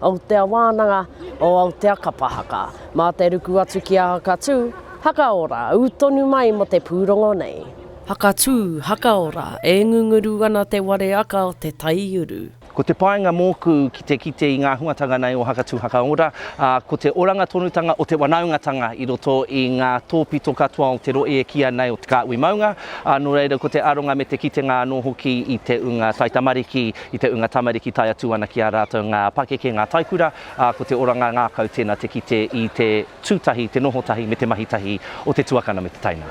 Aotea Wānanga o Aotea Kapa Haka. Mā te ruku atu ki a Hakatū, Hakaora, ū tonu mai mō te pūrongo nei. Hakatū, Hakaora, e ngunguru ana te ware aka o te taiuru. Ko te painga mōku ki te kite i ngā huatanga nei o Hakatū, Hakaora, ā, ko te oranga tonutanga o te wanaungatanga i roto i ngā tōpito katoa o te rohe e kīia nei o Te Kāhui Maunga, ā, nō reira ko te aronga me te kitenga anō hoki i te ūnga taitamariki I te ūnga tamariki tae atu ana ki a rātou ngā pakeke, ngā taikura, ā, ko te oranga ngākau tēnā te kite i te tū tahi, te noho tahi me te mahi tahi o te tuakana me te taina.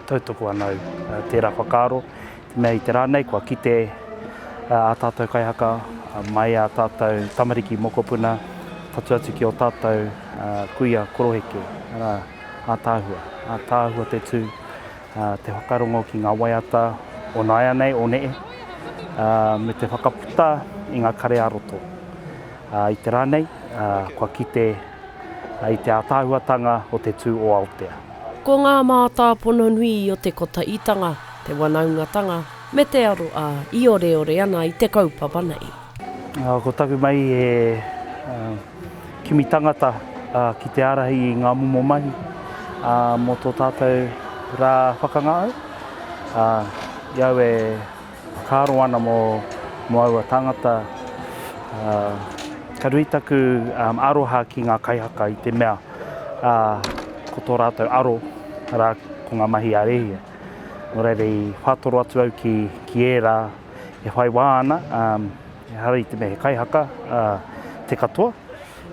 Tautoko ana au tērā whakaaro, te mea i te rā nei kua kite ā tātou kaihaka mai ā tātou tamariki mokopuna whatu atu ki ō tātou kuia koroheke, arā, ātaahua. Ātaahua te tū. te whakarongo ki ngā waiata o nāianei, o neē, me te whakaputa i ngā kare ā-roto. I te rā nei, kua kite i te ātaahuatanga o te tū o Aotea. Ko ngā mātāpono nui o te kotaitanga, te wanaungatanga, me te aro ā, i oreore ana i te kaupapa nei. Ko taku mai e. Kimi tangata ki te ārahi i ngā momo mahi mō tō tātou rā whakangahau. I au e whakaaro ana mō aua tāngata, ka nui taku aroha ki ngā kaihaka i te mea ko tō rātou aro rā ko ngā mahi a rēhia. Nō reira i whātoro atu au ki ērā e whai wā ana. Ehara i te mea he kaihaka te katoa,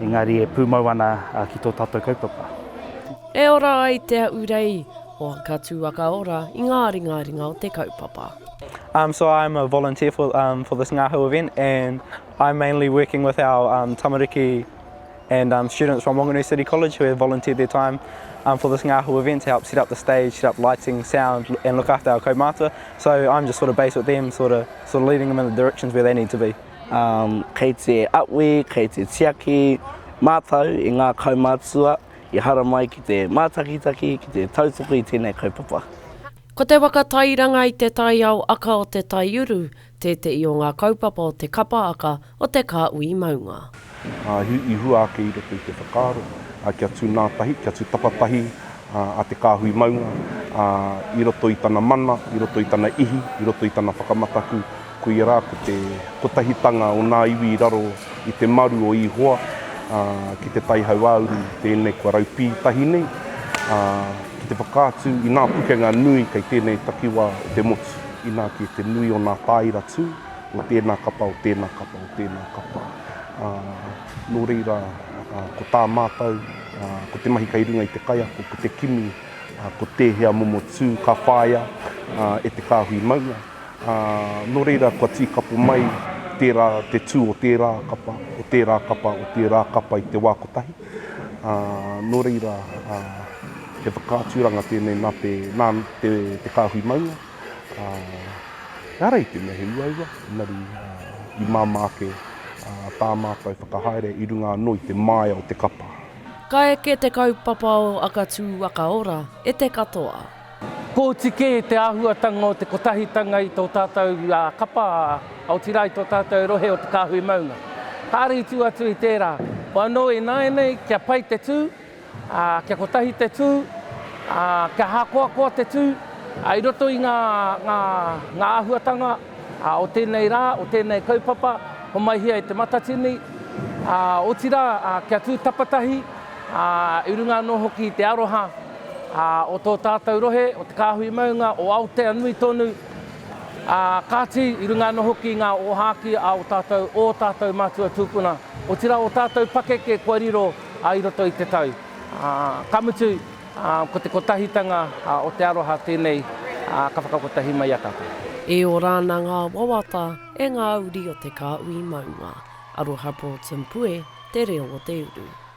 engari e pūmau ana ki tō tātou kaupapa. E ora ai Te Ahurei o Ka Tū a Ka Ora i ngā ringaringa o te kaupapa. Um so I'm a volunteer for um for this Ngahau event and I'm mainly working with our um tamariki. and um, students from Wanganui City College who have volunteered their time um, for this Ngāhu event to help set up the stage, set up lighting, sound and look after our kaumātua. So I'm just sort of based with them, sort of, sort of leading them in the directions where they need to be. Um, kei te awi, kei te tiaki, mātau i ngā kaumātua i haramai ki te mātakitaki, ki te tautoko i tēnei kaupapa. Ko te waka tairanga i te taiao aka o te taiuru, Tētehi o ngā kaupapa o te Kapa Aka o Te Kāhui Maunga. I hua ake i roto i te whakaaro kia tū nā tahi, kia tū tapa tahi a Te Kāhui Maunga i roto i tana mana, i roto i tana ihi, i roto i tana whakamataku, koia rā ko te kotahitanga o ngā iwi i raro i te maru o Ihoa ki te tai hauāuru tēnei kua raupī tahi nei, ki te whakaatu i ngā pukenga nui kei tēnei takiwā o te motu. Inā kē te nui o nā tāira tū, o tēnā kapa, o tēnā kapa, o tēnā kapa. Ā, nō reira, ā, ko tā mātou, ā, ko te mahi kei runga i te kaiako, ko te kimi, ā, ko tēhea momo tū ka whāia, ā, e te kāhui maunga. Ā, nō reira, kua tīkapo mai tērā, te tū o tērā kapa, o tērā kapa, o tērā kapa i te wā kotahi. Ā, nō reira, ā, he whakaaturanga tēnei nā te, nā te, te kāhui maunga, ā, ehara i te mea he uaua, engari, ā, i māmā ake, ā, tā mātou whakahaere i runga anō i te māia o te kapa. Ka eke te kaupapa o Akatū Akaora e te katoa. Pōti kē te āhuatanga o te kotahitanga i tō tātou kapa, otirā i tō tātou rohe o te kāhui maunga. Kāre i tū atu i tērā, anō ināianei kia pai te tū, kia kotahi te tū, kia hākoakoa te tū i roto i ngā āhuatanga o tēnei rā, o tēnei kaupapa, homaihia e Te Matatini, otirā kia tū tapatahi i runga anō hoki i te aroha Ā, o tō tātou rohe, o te kāhui maunga, o Aoteanui tonu, ā, kāti, i runga anō hoki i ngā ōhākī a ō tātou, ō tātou mātua tūpuna, otirā ō tātou pakeke kua riro i roto i te tau. Ā, ka mutu, ā, ko te kotahitanga o te aroha tēnei ka whakakotahi mai i a tātou. E ora ana ngā wawata e ngā uri o te kāhui maunga. Aroha Broughton Pue, Te Reo o te Uru.